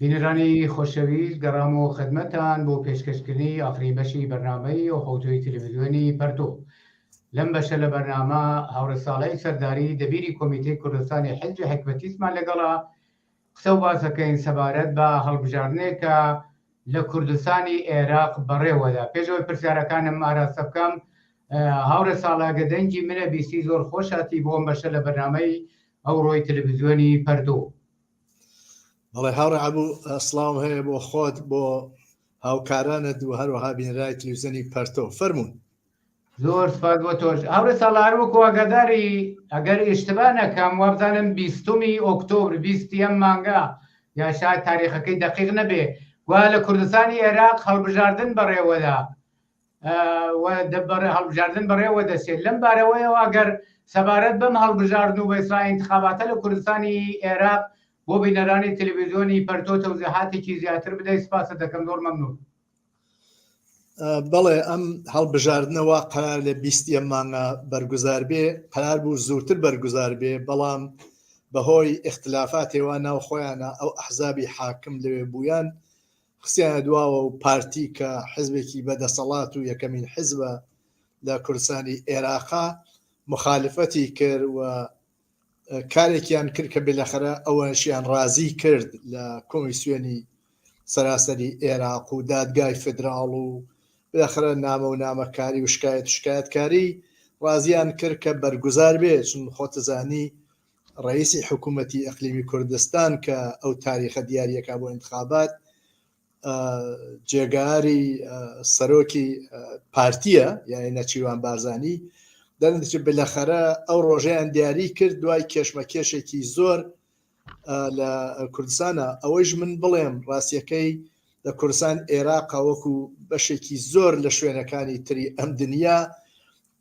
بینەرانی خۆشەویست گەڕامەوە خدمەتان بۆ پێشکەشکردنی ئاخرین بەشی بەرنامەی و حوتوی تلویزیۆنی پەرتو لەم بەشە لە بەرنامە هاوڕێ ساڵی سەرداری دەبیری کۆمیتەی کوردستانی حزبی حکمەتیسمان لەگەڵا قسە و باسەکەین سەبارەت بە هەڵبژاردنێکە لە کوردستانی عێراق بەڕێوەدا پێشەوەی پرسیارەکانم ئاراستە بکەم هاوڕێ ساڵاگە دەنگی منە بیستی زۆر خۆشاتی بۆم بەشە لە بەرنمەی ئەوڕۆی تەلەڤزیۆنی پەردۆ. بەڵێ هاوڕێ عەبوو سڵاوم هەیە بۆ خۆت بۆ هاوکارانت و هەروەها بینرای تلویزیۆنی پەرتۆ فەرمونون زۆر سپاس بۆ تۆش هاورە ساڵار وەکو ئەگەداری ئەگەر ئیشتبا نەکەم وابزانم بیستمی ئۆکتۆبر بیستی ئەم مانگە یا شاید تاریخەکەی دقیق نەبێ گویا لە کوردستانی عێراق هەڵبژاردن بەڕێوەدا هەڵبژاردن بەڕێوە دەچێت لەم بارەوەیەوە گەر سەبارەت بەم هەڵبژاردن و بەیسرا انتخاباتە لە کوردستانی عێراق بۆ بینەرانی تەلەڤیزیۆنی پەرتۆ تەوزیهاتێکی زیاتر بدەیت سپاست دەکەم زۆر مەمنون بەڵێ ئەم هەڵبژاردنەوە قرار لە بیستە مانگە بەرگزار بێ قرار بوو زووتر بەرگزار بێ بەڵام بەهۆی اختلافاتێوە ناو خۆیانە ئەو ئەحزابی حاکم لەوێ بوویان خستیانە دواوە و پارتی کە حزبێکی بە دەسەڵات و یەکەمین حزبە لە کوردستانی ئێراقە مخالفەتی کرد و کارێکیان کرد کە بلەخرە ئەوەشیان ڕازی کرد لە کۆمیسیۆنی سەراسەری ئێراق و دادگای فدراڵ و بلەخرە نامە و نامەکاری و شکایەت شکایەتکاری ڕازیان کرد کە بەرگوزار بێ چون خۆتزانی ڕەئیسی حکوومەتی ئەقلیمی کوردستان کە ئەو تاریخە دیاریە کا بۆ ئینتخابات جێگاری سەرۆکی پارتیە یانی نەچیوان بارزانی دەنچ بلەخەرە ئەو ڕۆژەیان دیاری کرد دوای کێشمە کێشێکی زۆر لە کوردستانە ئەوەیش من بڵێم ڕاستیەکەی لە کوردستان عێراقا وەکو بەشێکی زۆر لە شوێنەکانی تری ئەم دنیا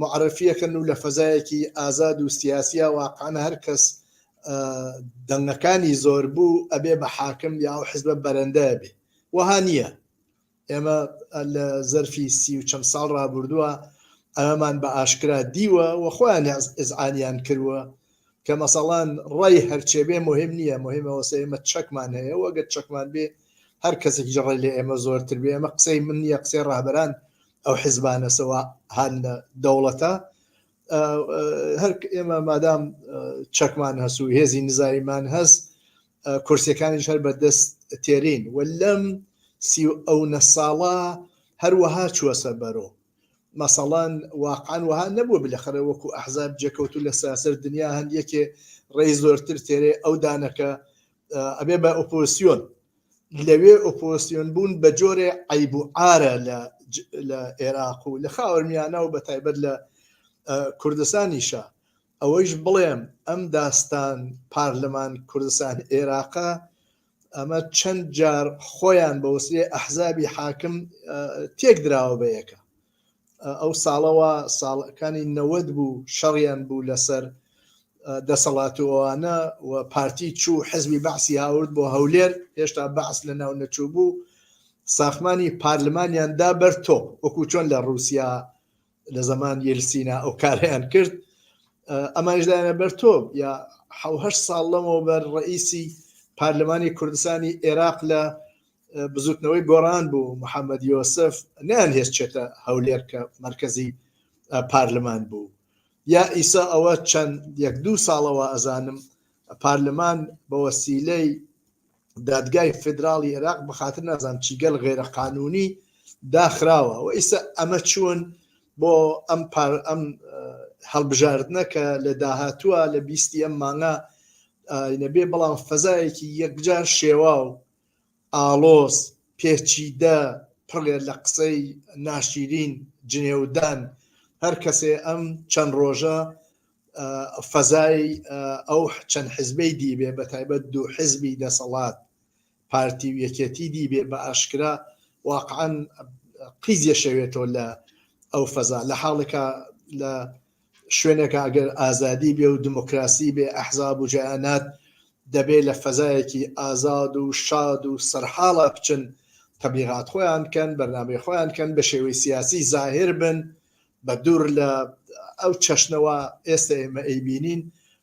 معرفی ئەکەن و لە فەزایەکی ئازاد و سیاسیا واقعەن هەر کەس دەنگەکانی زۆر بوو ئەبێ بە حاکم یا ئەو حزبە بەرەندە بێ وەها نییە ئێمە لە زەرفی سی و چەند ساڵ رابردووە ئەمەمان بە ئاشکرا دیوە و خۆیان ئزعانیان کردووە کە مەسەڵان ڕای هەرچێ بێ مهم نییە مهمەوەسە ئێمە چەکمان هەیە وەگەر چەکمان بێ هەر کەسێک جڕی لە ئێمە زۆرتر بێ ئەمە قسەی من نیە قسەی ڕابران ئەو حیزبانە سەوا هەن لە دەوڵەتە هەر ئێمە مادام چەکمان هەس و هێزی نزایمان هەست کورسەکانیش هەر بەدەست تێرین و لەم سی ئەو نە ساڵە هەروەها چووەسە بەرۆ مەسەڵەن واقعان وها نەبوو بلەخەرە وەکو ئەحزاب جێکەوت و لە ساسەر دنیا هەند یەکێ ڕێی زۆرتر تێرێ ئەو دانەکە ئەبێ بە ئۆپۆسیۆن لەوێ ئۆپۆسیۆن بوون بە جۆرێ عیب و ئارە لە عێراق و لە خاوەرمیانە و بە تایبەت لە کوردستانیشە ئەوەیش بڵێم ئەم داستان پارلەمان کوردستان عێراقە ئەمە چەند جار خۆیان بەوسێ ئەحزابی حاکم تێک دراوە بە یەکە ئەو ساڵەوە ساڵەکانی نەوەد بوو شەڕیان بوو لەسەر دەسەڵات و ئەوانە و پارتی چوو حزبی بەعسی هاورد بۆ هەولێر هێشتا بەعس لە ناو نەچوو بوو ساخمانی پارلمانیان دا بەر تۆپ وەکو چۆن لە رووسیا لە زەمان یلسینا ئەو کاریان کرد ئەمانشدایانە بەر تۆپ یا حوهش ساڵ لەمەوە بەر ڕئیسی پارلمانی کوردستانی عێراق لە بزوتنەوەی گۆڕان بوو محەممەد یۆسف نیان هێز چێتە هەولێر کە مرکزی پارلمان بوو یا ئیسا ئەوە چەند یەک دوو ساڵەوە ئەزانم پارلمان بە وەسیلەی دادگای فدراڵی عێراق بەخاتر نازان چیگەل غێرە قانونی داخراوە و ئیسا ئەمە چوون بۆ ئەم پار ئەم هەڵبژاردنە کە لە داهاتووە لە بیستی ئەم مانگە نەبێ بەڵام فەزایەکی یەکجار شێوا و ئاڵۆز، پێچیدە، پڕێ لە قسەی ناشیرین، جنێودان، هەر کەسێ ئەم چەند ڕۆژە فەزای ئەو چەند حزبەی دیبێ بە تایبەت دوو حزبی دەسەڵات پارتی و یەکێتی دیبێ بە ئاشکرا واقعەن قیزیە شەوێتەوە لە ئەو فەزا لە حاڵێکا لە شوێنێکە ئەگەر ئازادی بێ و دمۆکراسی بێ ئەحزاب و جەیانات دەبێ لە فەزایەکی ئازاد و شاد و سەرحاڵا بچن تەبلیغات خۆیان کەن بەرنامەی خۆیان کەن بە شێوەی سیاسی زاهر بن بە دوور لە ئەو چەشنەوە ئێستە ئێمە ئەیبینین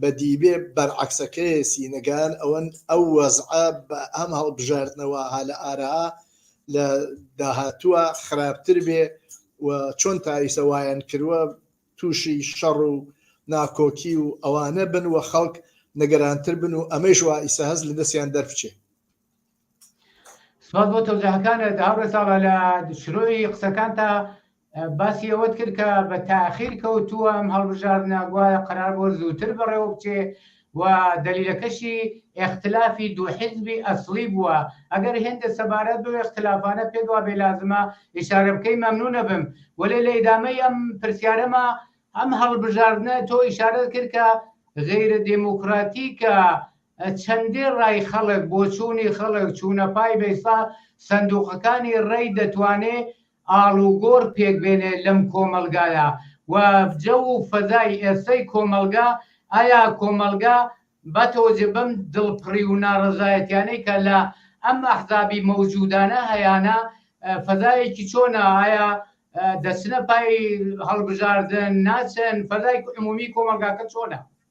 بە دیبێ بەرعەکسەکەێ سینەگان ئەوەن ئەو وەزعە بە ئەم هەڵبژاردنەوە ها لە ئارا لە داهاتووە خراپتر بێ و چۆن تایسە وایەن کردوە تووشی شەڕ و ناکۆکی و ئەوانە بن و خەڵک نەگەرانتر بن و ئەمەیش وا ئیسە هەز لە دەستیان دەربچێ سوپاس بۆ تەوزیهەکانت هاوڕێ ساڵە لە شرۆی قسەکانتا باسی ئەوەت کرد کە بە تاخیر کەوتووە ئەم هەڵبژاردنە گوایە قرار بۆ زووتر بەڕێوە بچێ و دەلیلەکەشی ئەختلافی دوو حزبی ئەسلی بووە ئەگەر هێندە سەبارەت بۆ ئەختلافانە پێ دوا بێ لازمە ئشارە بکەی مەمنونە بم وەێ لە ئیدامەی ئەم پرسیارەمە ئەم هەڵبژاردنە تۆ ئشارەت کرد کە غیرە دموکراتیکە چەندێ ڕای خەڵک، بۆچوونی خەڵک، چوونە پای بەیسا سەندووقەکانی ڕەی دەتوانێ ئاڵوگۆڕ پێک بێنێ لەم کۆمەڵگایە و جەو و فەزای ئێستەی کۆمەڵگا، ئایا کۆمەڵگا بەتۆجە بەم دڵپڕی و ناڕەزایەتیانەی کە لە ئەم ئەحزابی مەوجوودانە هەیانە فەزایەکی چۆنە، ئایا دەچنە پای هەڵبژاردن، ناچن، فەزای عموومی کۆمەڵگاکە چۆنە؟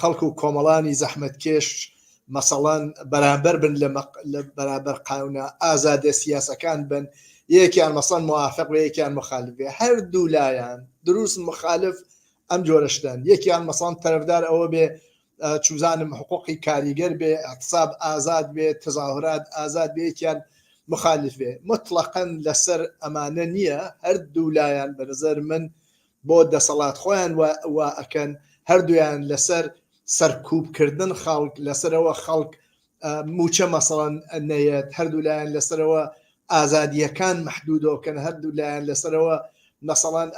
خەڵک و کۆمەڵانی زەحمەتکێش مەسەڵەن بەرامبەر بن لە بەرابەر قاونە ئازادە سیاسەکان بن یەکیان مەسەن موافق یەکیان مخالفێ هەردوو لایەن دروست مخالف ئەم جۆرەشتن یەکیان مەسان تەرەفدار ئەوە بێ چوزانم حقوقی کاریگەر بێ اقتصاب ئازاد بێ تەزاهرات ئازاد بێکیان مخالف بێ مطلقەن لەسەر ئەمانە نییە هەردوو لایەن بەنظر من بۆ دەسەڵات خۆیان وا ئەکەن هەردویان لەسەر سەرکوب کردن خەڵک لەسەرەوە خەڵک موچە مەسەڵەن نەیەت هەردوو لایەن لەسەرەوە ئازادیەکان محدودۆکەن هەردوو لایەن لەسەرەوە مەسەڵەن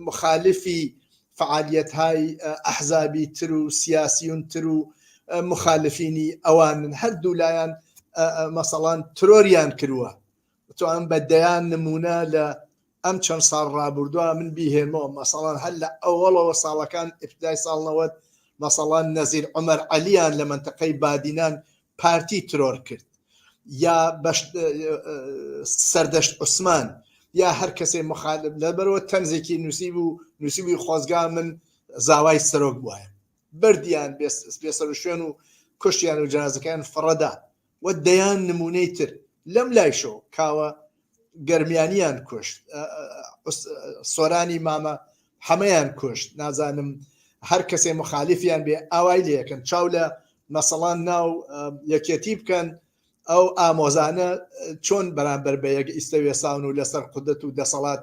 مخالفی فعالیت های ئەحزابی تر و سیاسیون تر و مخالفینی ئەوانن هەردوو لایەن مەسەڵان ترۆریان کرووە تو ئەم بە دەیان نمونە لە ئەم چەند ساڵ ڕابوردوە من بیهێمۆ مەسەڵەن هەر لە ئەوەڵەوە ساڵەکان ئیپتدای ساڵ نەوەد مەسەڵەن نەزیر عومەر عەلیان لە مەنتەقەی بادینان پارتی ترۆر کرد یا بەش سەردەشت عوسمان یا هەر کەسێ مخالب لە بەرەوە تەنزێکی نووسی بوو نووسی بووی خۆزگا من زاوای سەرۆک بواە بردیان بێسەر شوێن و کوشتیان و جنازەکەیان فڕەدا و دەیان نمونەی تر لەم لایشەوە کاوە گەرمیانیان کوشت سۆرانی مامە حەمەیان کوشت نازانم هەر کەسێ مخالیفیان بێ ئاوای لەکەن چاو لە مەسەڵان ناو یەکێتی بکەن ئەو ئامۆزانە چۆن بەرامبەر بە یەک ئیسەوێساون و لەسەر قودەت و دەسەڵات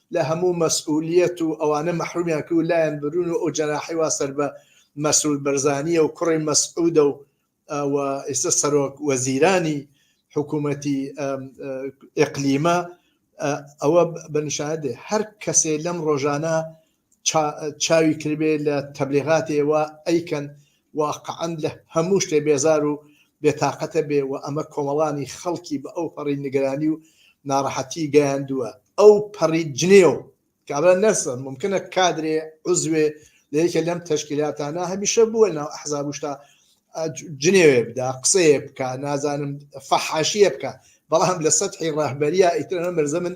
لە هەموو مەسئولیەت و ئەوانە مەحرومیان کرد و لایان برون و ئەو جەناحەی وا سەر بە مەسرور بەرزانیە و کوڕی مەسعودە و و ئێستا سەرۆک وەزیرانی حکوومەتی ئقلیمە ئەوە بە نیشاندێ هەر کەسێ لەم ڕۆژانە چاوی کردێ لە تەبلیغاتێەوە ئەیکەن واقعەن لە هەموو شتێ بێزار و بێ تاقەتە بێ و ئەمە کۆمەڵانی خەڵکی بە ئەو پەڕی نیگەرانی و ناڕەحەتی گەیاندووە ئەو پەڕی جنێو کابرا نەسە مومکنە کادرێ عوزوێ لە یەکێ لەم تەشکیلاتانە هەمیشە بووە ناو ئەحزاب و شتا جنێوێ بدا قسەیە بکە نازانم فەحاشیە بکە بەڵام لە سەدحی ڕاهبەریا ئیترەنە مرزە من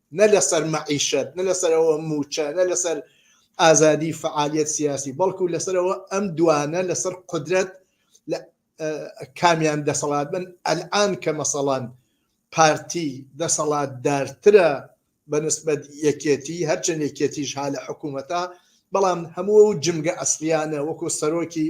نە لەسەر مەعیشەت نە لەسەرەوە موچە نە لەسەر ئازادی فعالیت سیاسی بەڵکو لەسەرەوە ئەم دوانە لەسەر قدرەت لە کامیان دەسەڵات بن ئەلان کە مەسەڵان پارتی دەسەڵات دارترە بەنسبەت یەکێتی هەرچەند یەکێتیش ها لە حکوومەتە بەڵام هەموو و جمگە ئەسلیانە وەکو سەرۆکی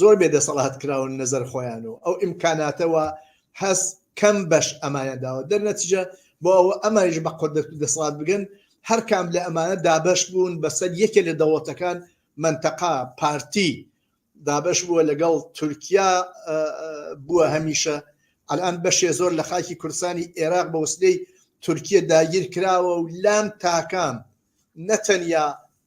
زۆر بێ دەسەڵات کراون نەزەر خۆیان و ئەو ئیمکاناتەوە هەست کەم بەش ئەمایان داوە دەرنەتیجە بۆ ئەوە ئەمانیش بە قدرت و دەسەڵات بگەن هەر کام لە ئەمانە دابش بوون بەسەر یەکێ لە دەوڵەتەکان منتەقا پارتی دابش بووە لەگەڵ تورکیا بووە هەمیشە ئەلان بەشێ زۆر لە خاکی کورسانی عێراق بە وسلەی تورکیە داگیر کراوە و لام تاکان نەتەنیا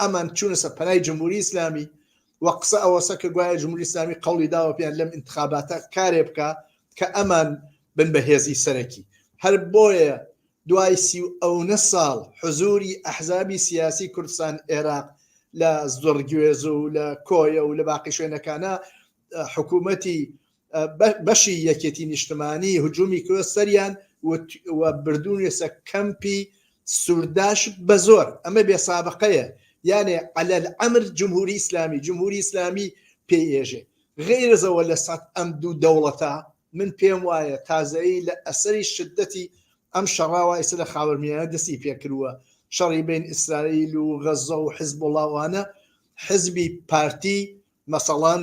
ئەمان چونەسە پەنای جمهوری ئیسلامی و قسە ئەوەسە کە گوایە جمهوری ئیسلامی قوڵی داوە پێیان لەم انتخاباتە کارێ بکە کە ئەمان بن بە هێزی سەرەکی هەر بۆیە دوای سی و ئەونە ساڵ حزوری ئەحزابی سیاسی کوردستان عێراق لە زۆرگوێز و لە کۆیە و لە باقی شوێنەکانە حکوومەتی بەشی یەکێتی نیشتمانی هجوومی کرۆ سەریان بردوونێسە کەمپی سوورداش بە زۆر ئەمە بێ سابقەیە یانێ عەلەل ئەمر جمهوری ئیسلامی جمهوری ئیسلامی پێی ئێژێ غیرزەوە لە سەد ئەم دوو دەوڵەتە من پێم وایە تازایی لە ئەسەری شدەتی ئەم شەڕاوە ئیسە لە خاوەرمیانە دەستی پێکردووە شەڕی بین ئیسرائیل و غەزە و حزب وڵاوانە حزبی پارتی مەسەڵان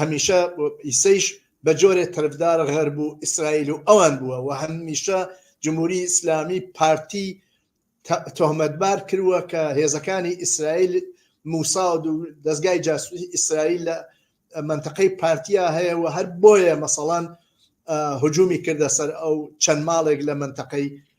هەمیشە ئیسەیش بە جۆرێ تەرفدار غەرب و ئیسرائیل و ئەوان بووە و هەمیشە جمهوری ئیسلامی پارتی تۆمەتبار کردووە کە هێزەکانی ئیسرائیل موساود و دەستگای جاسوسی ئیسرائیل لە منطقەی پارتیا هەیە و هەر بۆیە مەسەڵان هجومی کردە سەر ئەو چەند ماڵێک لە منطقەی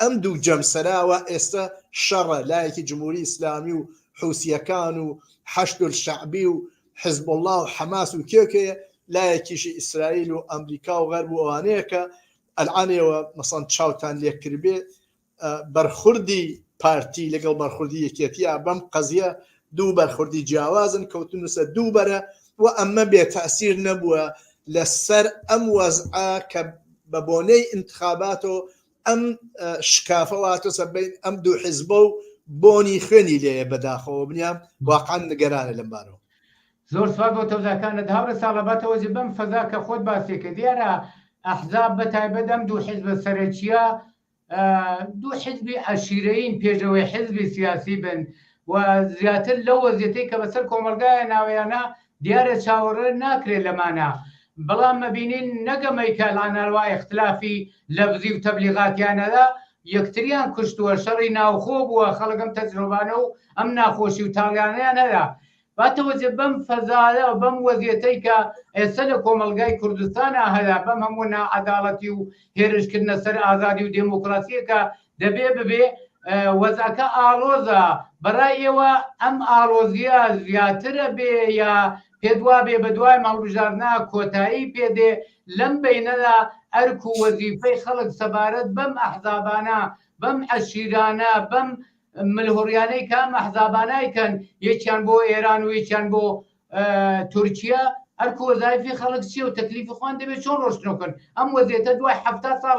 ئەم دوو جەمسەراوە ئێستە شەڕە، لایەکی جمهوری ئیسلامی و حوسییەکان و حەشدولشەعبی و حزبوڵڵا و حەماس و کێ و کێیە، لایەکیشی ئیسرائیل و ئەمریکا و غەرب و ئەوانەیە کە ئەلعان ئێوە مەسەڵەن چاوتان لێ کردبێ بەرخوردی پارتی لەگەڵ بەرخوردی یەکێتییە بەم قەزیە دوو بەرخوردی جیاوازن کەوتنووسە دوو بەرە و ئەمە بێ تەسیر نەبووە لەسەر ئەم وەزعە کە بە بۆنەی انتخاباتەوە ئەم شکافە واتۆسە بین ئەم دوو حزبە و بۆنی خوێنی لێە بەداخەوە بنیام واقعان نگەرانە لەم بارەوە زۆر سوپاس بۆ تەوزاکانت هاوڕێ ساڵەباتەوەزی بەم فەزا کە خۆت باسێکە دیارە ئەحزاب بە تایبەت ئەم دوو حیزبە سەرەکیە دوو حیزبی عشیرەین پێشەوەی حیزبی سیاسی بن و زیاتر لەو وەزیەتی کە بەسەر کۆمەلگایە ناویانە دیارە چاوەڕێ ناکرێت لەمانە بەڵام مەبینین نەک ئەمەی کە لەناروای ئیختلافی لەفزی و تەبلیغاتیانەدا یەکتریان کوشتووە شەڕی ناوخۆ بووە خەڵک ئەم تەجرۆبانە و ئەم ناخۆشی و تاڵیانەیان هەرا باتەوەجێ بەم فەزایە و بەم وەزیەتەی کە ئێستا لە کۆمەلگای کوردستانا هەرا بەم هەموو ناعەداڵەتی و هێرشکردنە سەر ئازادی و دێمۆکڕاسیەکە دەبێ ببێ وەزعەکە ئاڵۆزە بەڕای ئێوە ئەم ئاڵۆزیە زیاترە بێ یا پێت وابێ بە دوای مەڵبژارنا کۆتایی پێدێ لەم بینەدا ئەرک و وەزیفەی خەڵک سەبارەت بەم ئەحزابانە بەم عەشیرانە بەم ملهوڕیانەی کام ئەحزابانای کەن یەکیان بۆ ئێران و یەکیان بۆ تورکیا ئەرک وەزایفی خەڵک چیە و تەکلیفی خوان دەبێت چۆن ڕۆشتنەکەن ئەم وەزیێتە دوای هەفتا ساڵ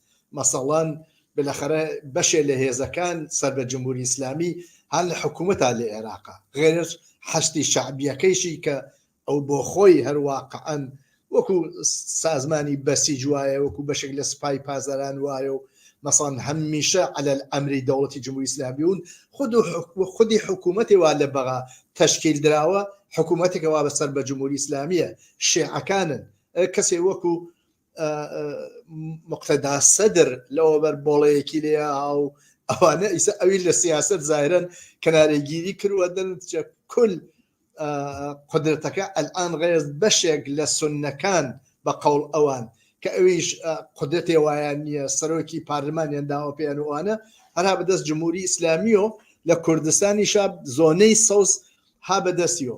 مەسەڵەن بلەخەرە بەشێ لە هێزەکان سەر بە جمهوری ئیسلامی هان لە حکوومەتا لە ئێراقا غێرش حەشدی شەعبیەکەیشی کە ئەو بۆ خۆی هەر واقعەن وەکو سازمانی بەسیج وایە وەکو بەشێک لە سپای پازەران وایە و مەسان هەمیشە على ئەمری دەوڵەتی جمهوری ئیسلامی ون خود خودی حکوومەتی وا لە بەغا تشکیل دراوە حکوومەتێکەوە بەسەر بە جمهوری ئیسلامیە شێعەکانن کەسێ وەکو مقتەدا سەدر لەوە بەر بۆڵەیەکی لێ ئاو ئەوانە ئیسا ئەوی لە سیاست زایرن کەنارێگیری کردوەدن کل قدرەتەکە ئەلان ڕێز بەشێک لە سنەکان بە قەڵ ئەوان کە ئەویش قدرەتێ وایان نییە سەرۆکی پارلمانیان داوە پێیان وانە هەرا بەدەست جمهوری ئیسلامیۆ لە کوردستانی شاب زۆنەی سەوز ها بەدەستیۆ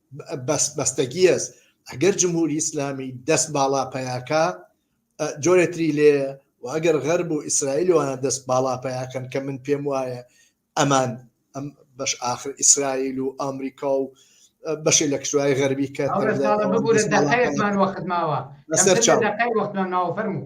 بەس بەستەگیەز ئەگەر جمهوری ئیسلامی دەست باڵا پیاکە جۆرێتری لێ و ئەگەر غەرب و ئیسرائیلوانە دەست باڵا پیاکەن کە من پێم وایە ئەمان ئەم بەش آخر ئیسرائیل و ئەمریکا و بەشی لە کشوای غەربی کە وەختماوە لەسەر چاوەفەرمو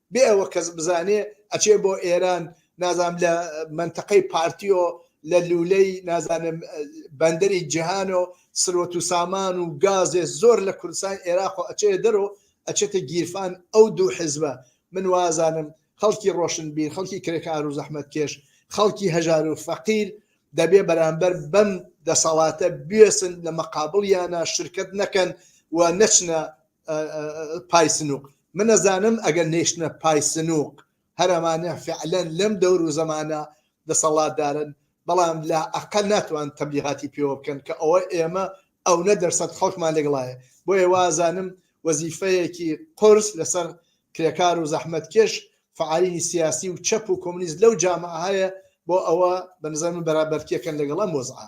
بێ ئەوە کەس بزانێ ئەچێ بۆ ئێران نازانم لە مەنتەقەی پارتیۆ لە لولەی نازانم بەندەری جیهان و سروەت و سامان و گازێ زۆر لە کوردستان عێراق و ئەچێ دەرۆ ئەچێتە گیرفان ئەو دوو حزبە من وازانم خەڵکی ڕۆشن بیر خەڵکی کرێکار و زەحمەت کێش خەڵکی هەژار و فەقیر دەبێ بەرامبەر بەم دەسەڵاتە بێسن لە مەقابڵیانە شرکت نەکەن و نەچنە پای سنووق من ئەزانم ئەگەر نەیشتنە پای سنووق هەر ئەمانە فعلەن لەم دەور و زەمانە دەسەڵاتدارن، بەڵام لا ئەقەل ناتوان تەبلیغاتی پێوە بکەن کە ئەوە ئێمە ئەونە دەرسەد خەڵکمان لەگڵایە، بۆیە وا ئەزانم وەزیفەیەکی قورس لەسەر کرێکار و زەحمەتکێش، فعالینی سیاسی و چەپ و کۆمۆنیست لەو جامعە هەیە، بۆ ئەوە بە نەزەر من بەرابەرتیەکەن لەگەڵ ئەم وەزعە.